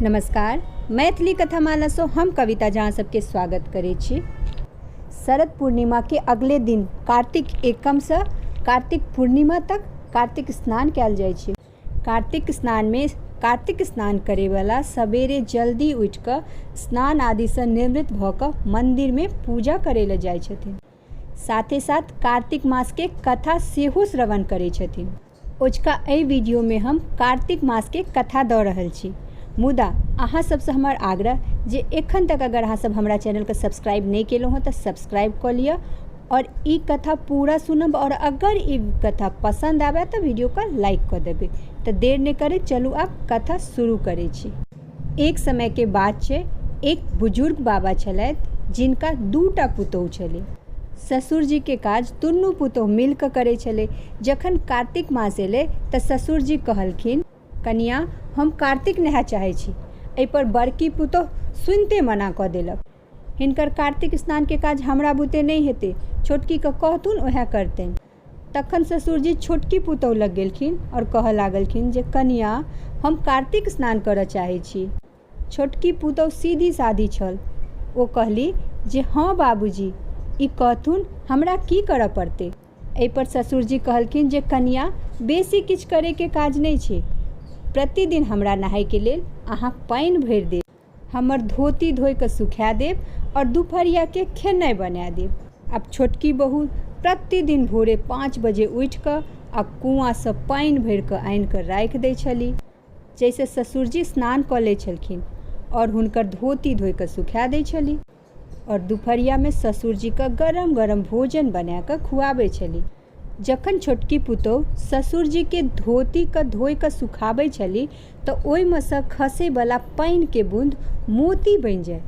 नमस्कार मैथिली कथामालासँ हम कविता झा अहाँ सबके स्वागत करै छी शरद पूर्णिमाके अगले दिन कार्तिक एकमसँ कार्तिक पूर्णिमा तक कार्तिक स्नान कयल जाइ छै कार्तिक स्नानमे कार्तिक स्नान करैवला सबेरे जल्दी उठिकऽ स्नान आदिसँ निवृत भऽ कऽ मन्दिरमे पूजा करैलए जाइ छथिन साथे साथ कार्तिक मास के कथा सेहो श्रवण करै छथिन ओजका एहि वीडियो में हम कार्तिक मास के कथा दऽ रहल छी मुदा अहाँ सबसँ हमर आग्रह जे एखन तक अगर अहाँ सब हमरा चैनल के सब्सक्राइब नहि केलहुँ हँ तऽ सब्सक्राइब कऽ लिअ और ई कथा पूरा सुनब और अगर ई कथा पसंद आबे तऽ वीडियो के लाइक कऽ देबै तऽ देर नहि करैत चलू आब कथा शुरू करै छी एक समयके बात छै एक बुजुर्ग बाबा छलथि जिनका दूटा पुतोहु छलै ससुरजीके काज दुनू पुतोहु मिलकऽ करै छलै जखन कार्तिक मास एलै तऽ ससुरजी कहलखिन कनियाँ हम कार्तिक नहाय चाहै छी अइपर बड़की पुतोहु सुनिते मना कऽ देलक हिनकर कार्तिक स्नानके काज हमरा बुते नहि हेतै छोटकीके कहथुन ओहे करतनि तखन ससुरजी छोटकी पुतौह लग गेलखिन आओर कहऽ लागलखिन जे कनिया हम कार्तिक स्नान करऽ चाहै छी। छोटकी पुतौह सीधी सादी छल। ओ कहली जे हँ बाबूजी, ई कहथुन हमरा की करऽ पड़तै। एहि पर ससुरजी कहलखिन जे कनिया बेसी किछु करै के काज नहि छै। प्रतिदिन हमरा नहाय के लेल अहाँ पानि भरि देब। हमर धोती धोइ कऽ सुखा देब आओर दुपहरियाके खेनाइ बना देब आब छोटकी बहु प्रतिदिन भोरे पाँच बजे उठि कऽ आ कुआँसँ पानि भरि कऽ आनि कऽ राखि दै छली जाहिसँ ससुरजी स्नान कऽ लै छलखिन आओर हुनकर धोती धोइ कऽ सुखा दै छली आओर दुपहरियामे ससुरजीके गरम गरम भोजन बनाए कऽ खुआबै छली जखन छोटकी पुतोहु ससुरजीके धोतीके धोए कऽ सुखाबै छली तऽ ओहिमे सँ खसै बला पानिके बूँद मोती बनि जाय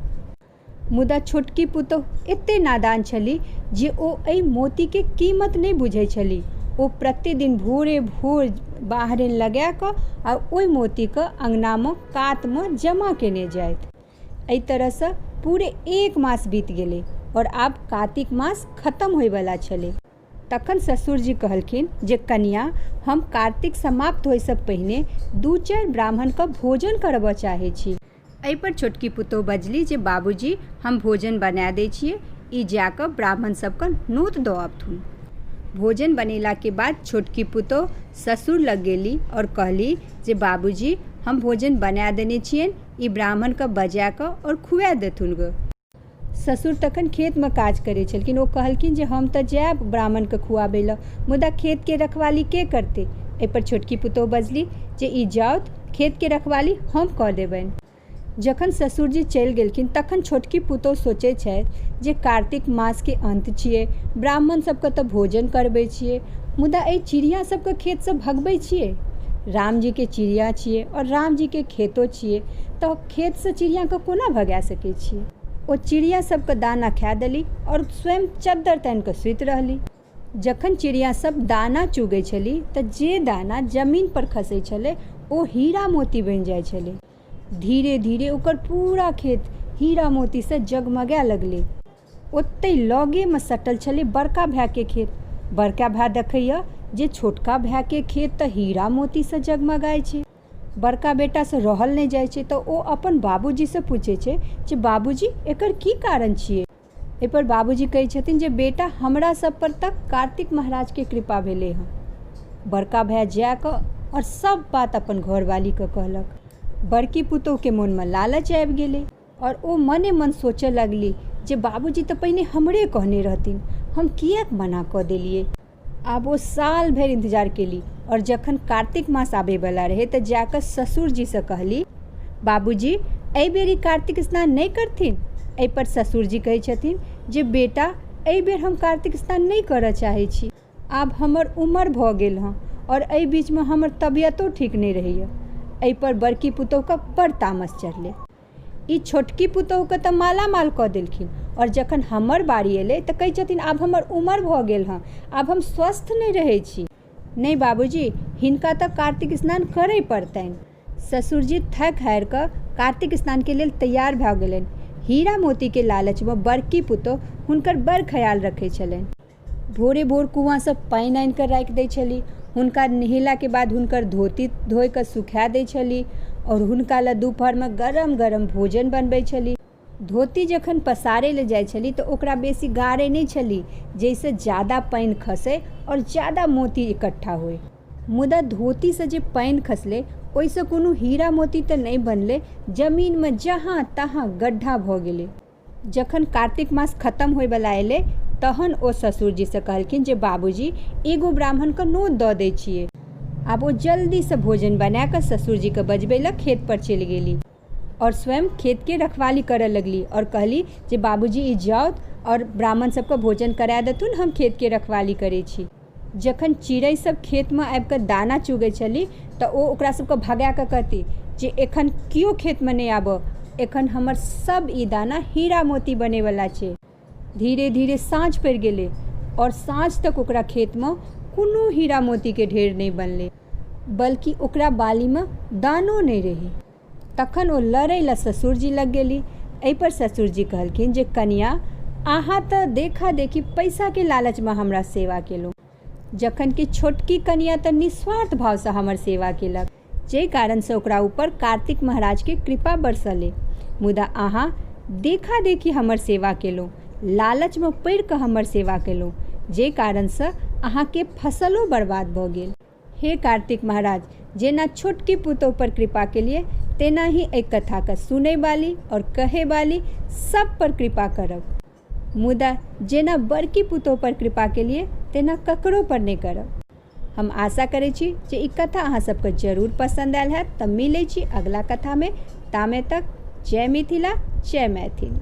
मुदा छोटकी पुतोहु एते नादान छली जे ओ एहि मोतीके कीमत नहि बुझै छली ओ प्रतिदिन भोरे भोर बाहरिन लगाए कऽ आ ओहि मोतीके अङ्गनामे कातमे जमा केने जाथि एहि तरहसँ पूरे एक मास बीत गेलै आओर आब कातिक मास खतम होइवला छलै तखन ससुरजी कहलखिन जे कनिया हम कार्तिक समाप्त होइसँ पहिने दू चारि ब्राह्मणके भोजन करबऽ चाहै छी एहिपर छोटकी पुतोहु बजली जे बाबूजी हम भोजन बना दै छिए ई जाकऽ ब्राह्मण सबके नोत दऽ अबथुन भोजन बनेलाके बाद छोटकी पुतोहु ससुर लग गेली आओर कहली जे बाबूजी हम भोजन बना देने छिअनि ई ब्राह्मणके बजा कऽ आओर खुआ देथुन गऽ ससुर तखन खेतमे काज करै छलखिन ओ कहलखिन जे हम तऽ जायब ब्राह्मणके खुआबै लए मुदा खेतके रखवाली के करतै एहिपर छोटकी पुतोहु बजली जे ई जाउत खेतके रखवाली हम कऽ देबनि जखन ससुरजी चलि गेलखिन तखन छोटकी पुतोहु सोचै छथि जे कार्तिक मासके अन्त छियै ब्राह्मण सबके तऽ भोजन करबै छियै मुदा एहि चिड़िया सबके खेतसँ भगबै छियै रामजीके चिड़िया छियै आओर रामजीके खेतो छियै तऽ खेतसँ चिड़ियाके कोना भगा सकै छियै ओ चिड़िया सभके दाना खाइ देली आओर स्वयं चद्दर तानि कऽ सुति रहली जखन चिड़िया सभ दाना चुगै छेली तऽ जे दाना जमीनपर खसै छलै ओ हीरा मोती बनि जाइ छलै धीरे धीरे ओकर पूरा खेत हीरा मोतीसँ जगमगाय लगलै ओतहि लगेमे सटल छलै बड़का भायके खेत। बड़का भाय देखैए जे छोटका भायके खेत तँ हीरा-मोतीसँ जगमगाइ छै। बड़का बेटासँ रहल नहि जाइ छै तँ ओ अपन बाबूजीसँ पूछै छै जे बाबूजी, एकर की कारण छिऐ? एहिपर बाबूजी कहै छथिन जे बेटा, हमरा सभ पर तँ कार्तिक महाराजके कृपा भेलै हँ। बड़का भाय जा कऽ आओर सभ बात अपन घरवालीकेँ कहलक। बड़की पुतोहुके मोनमे लालच आबि गेलै। आओर ओ मने मन सोचय लगली जे बाबूजी तऽ पहिने हमरे कहने रहथिन हम किएक मना कऽ देलियै आब ओ साल भरि इन्तजार केली आओर जखन कार्तिक मास आबयवला रहै तऽ जा कऽ ससुरजीसँ कहली बाबूजी एहि बेर ई कार्तिक स्नान नहि करथिन एहिपर ससुरजी कहै छथिन जे बेटा एहि बेर हम कार्तिक स्नान नहि करय चाहै छी आब हमर उमर भऽ गेल हँ आओर एहि बीचमे हमर तबियतो ठीक नहि रहैया एहि पर बड़की पुतोहू के बड़ तामस चढ़लै ई छोटकी पुतोहू के तऽ मालामाल कऽ देलखिन आओर जखन हमर बारी एलै तऽ कहै छथिन आब हमर उमर भऽ गेल हँ आब हम स्वस्थ नहि रहै छी नहि बाबूजी हिनका तऽ कार्तिक स्नान करय पड़तनि ससुर जी थाकि हारि कऽ कार्तिक स्नान के लेल तैयार भऽ गेलनि हीरा मोती के लालच मे बड़की पुतोहू हुनकर बड़ ख्याल रखै छलनि भोरे भोर कुआँसँ पानि आनि कऽ राखि दै छली हुनका नहेलाके बाद हुनकर धोती धोइ कऽ सुखा दै छली आओर हुनका लए दुपहरमे गरम गरम भोजन बनबै छली धोती जखन पसारै लए जाइ छली तऽ ओकरा बेसी गारै नहि छली जाहिसँ ज्यादा पानि खसै आओर ज्यादा मोती इकट्ठा होइ मुदा धोतीसँ जे पानि खसलै ओहिसँ कोनो हीरा मोती तऽ नहि बनलै जमीनमे जहाँ तहाँ गड्ढा भऽ गेलै जखन कार्तिक मास खतम होइ बला एलै तहन ओ ससुर जी सँ कहलखिन जे बाबू जी एगो ब्राह्मण के नोत दऽ दै छियै। आब ओ जल्दी सँ भोजन बना कऽ ससुर जी के बजबै लऽ खेत पर चलि गेली आओर स्वयं खेत के रखवाली करऽ लगली आओर कहली जे बाबू जी ई जाउथ आओर ब्राह्मण सब के भोजन करा देथुन हम खेत के रखवाली करै छी। जखन चिड़ै सभ खेतमे आबि कऽ दाना चुगै छलि तऽ ओ ओकरा सभके भगा कऽ कहति जे एखन केओ खेतमे नहि आबऽ एखन हमर सभ ई दाना हीरा मोती बनै बला छै धीरे धीरे साँझ पड़ि गेलै आओर साँझ तक ओकरा खेतमे कोनो हीरा मोतीके ढेर नहि बनलै बल्कि ओकरा बालीमे दानो नहि रहै तखन ओ लड़ै लए ससुरजी लग गेली। एहि पर ससुरजी कहलखिन जे कनिया अहाँ त देखा देखी पैसा के लालच मे हमरा सेवा केलहुँ जखन कि छोटकी कनिया त निस्वार्थ भाव सँ हमर सेवा केलक जाहि कारण सँ ओकरा ऊपर कार्तिक महाराज के कृपा बरसलै मुदा अहाँ देखा देखी हमर सेवा केलहुँ, लालच मे पड़ि क हमर सेवा केलहुँ जाहि कारण सँ अहाँ के फसलो बर्बाद भ गेल। हे कार्तिक महाराज! जेना छोटकी पुतोहु पर कृपा केलियै तेनाहि एहि कथा क सुनै बाली और कहै बाली सब पर कृपा करब। मुदा जेना बड़की पुतोहु पर कृपा केलियै तेना ककरो पर नै करब। हम आशा करै छी जे ई कथा अहाँ सब क जरूर पसन्द आयल हैत त मिलै छी अगला कथा मे तामे तक जय मिथिला जय मैथिली।